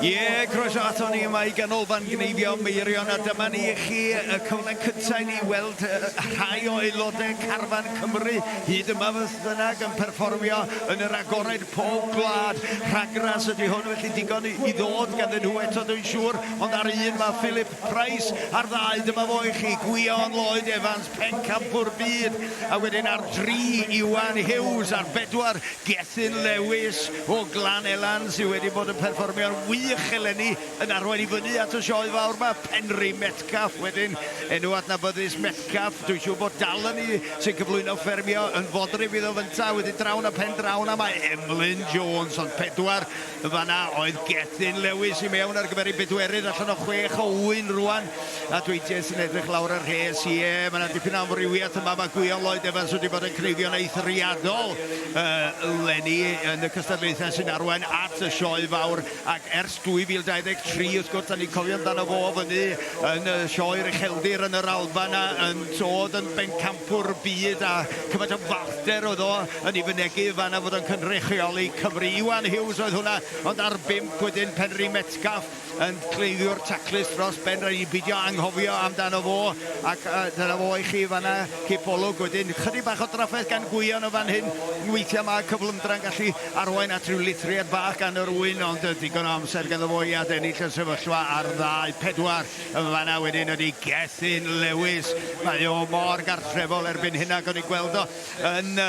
Ie, croeso aton ni yma i Ganolfan Gneifio Meirion a dyma ni i chi y cyfle cyntaf i ni weld rhai o aelodau Carfan Cymru hyd yma beth bynnag yn perfformio yn yr agored pob gwlad. Rhagras ydy hwn felly digon i ddod ganddyn nhw eto dwi'n siŵr ond ar un mae Philip Price a'r ddau dyma fo i chi Gwion Lloyd Evans pencampwr byd a wedyn ar dri Iwan Hughes ar bedwar Gethin Lewis O Glan Elan sydd wedi bod yn perfformio'n wych eleni yn arwain i fyny at y sioe fawr 'ma. Penri Metcalfe wedyn, enw adnabyddus Metcalfe, dwi'n siŵr bod Dal Ynni sy'n cyflwyno Ffermio yn fodryb iddo fynta, wedyn draw 'na pen draw 'na mae Emlyn Jones ond pedwar yn fan'na oedd Gethin Lewis i mewn ar gyfer ei bedwerydd allan o chwech o ŵyn rŵan. A dweud ti sy'n edrych lawr y rhes, ie, mae yna dipyn o amrywiaeth yma. Mae Gwion Lloyd Evans wedi bod yn cneifio'n eithriadol uh, lenni yn y cystadlaethau sy'n arwain at y sioe fawr. Ac ers 2023, wrth gwrs, da ni'n cofio amdano fo fyny yn y sioe Recheldir yn yr Alban a yn tod yn bencampwr byd a cyfaint o falter oedd o yn ei fynegu fanna fod o'n cynrychioli Cymru. Iwan Hughes oedd hwnna, ond ar bimp wedyn Penri Metcalf yn cleifiwr taclus dros ben, rhaid i ni beidio anghofio amdano fo, ac uh, dyna fo i chi fanna, cipolwg wedyn, chydig bach o drafferth gan Gwion o fan hyn, weithiau mae cyflymdra'n gallu arwain at ryw lithriad bach gan yr ŵyn, ond uh, digon o amser ganddo fo i adennill y sefyllfa ar ddau pedwar, yn fanna wedyn ydy Gethin Lewis, mae o mor gartrefol erbyn hyn ac o'n i'n gweld o yn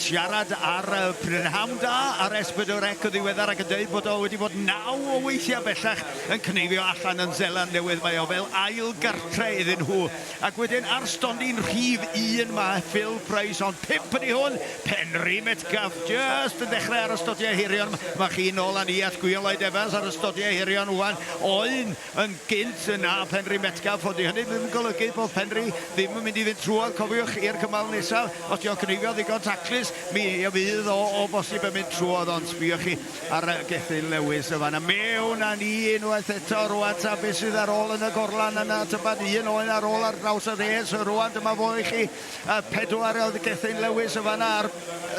siarad ar Prynhawn Da ar S4C yn ddiweddar ac yn dweud bod o wedi bod naw o weithiau bellach yn cneifio allan yn Seland Newydd. Mae o fel ail gartre iddyn nhw. Ac wedyn ar stondin rhif un mae Phil Price, ond pump ydy hwn, Penri Metcalfe jyst yn dechrau ar y stodiau hirion. Mae chi nôl â ni at Gwiolaid Evans ar y stodiau hirion ŵan, oen yn gynt na Phenrhyn Metcalfe, ond dyw hynny ddim yn golygu bod Penrhyn ddim yn mynd i fynd trwodd, cofiwch, i'r cymal nesaf. Os yw o'n cneifio ddigon taclus, mi fydd o o bosib yn mynd trwodd, ond sbïwch chi ar Gethin Lewis yn fan'na. Mewn â ni unwaith eto rŵan ta beth sydd ar ôl yn y gorlan yna, tybed un oen ar ôl ar draws y res rŵan, dyma fo i chi, pedwar oedd Gethin Lewis yn fan'na ar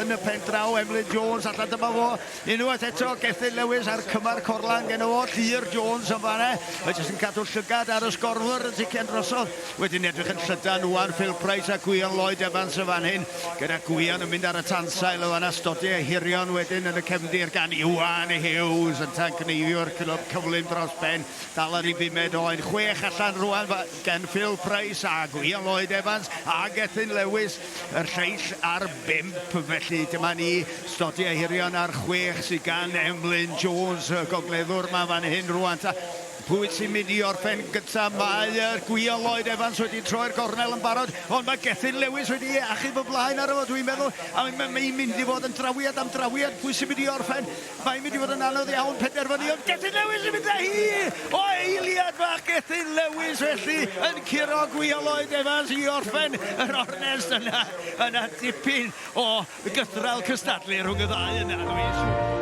yn y pen draw, Emlyn Jones allan, dyma fo. Unwaith eto, Gethin Lewis a'r cymar corlan gen o oll, Llŷr Jones yn fan'na, mae jyst yn cadw llygad ar y sgorwr yn sicr drosodd. Wedyn ni'n edrych yn llydan ŵan, Phil Price a Gwion Lloyd Evans yn fan hyn, gyda Gwion yn mynd ar y tansail yn fan'na, Stodie a Hirion wedyn yn y cefndir gan Iwan Hughes, yn tangneiddio'r clwb cyflym dros ben, dal ar ei bumed o, un chwech allan rŵan gen Phil Price a Gwion Lloyd Evans a Gethin Lewis. Yr lleill ar bump, felly dyma ni, Stodi Ahirion ar chwech sydd gan Emlyn Jones, y gogleddwr ma fan hyn rwan ta. Pwy sy'n mynd i orffen gyntaf? Mae uh, Gwia Lloyd Evans wedi troi'r gornel yn barod, ond mae Gethin Lewis wedi achub y blaen ar efo, dwi'n meddwl, a mae'n mynd i fod yn drawiad am drawiad, pwy sy'n mynd i orffen? Mae'n mynd i fod yn anodd iawn penderfynu, ond Gethin Lewis yn mynd â hi o eiliad fach Gethin Lewis felly yn curo Gwion Lloyd Evans i orffen yr ornest yna. Yna dipyn o gythraul cystadlu rhwng y ddau yna, does?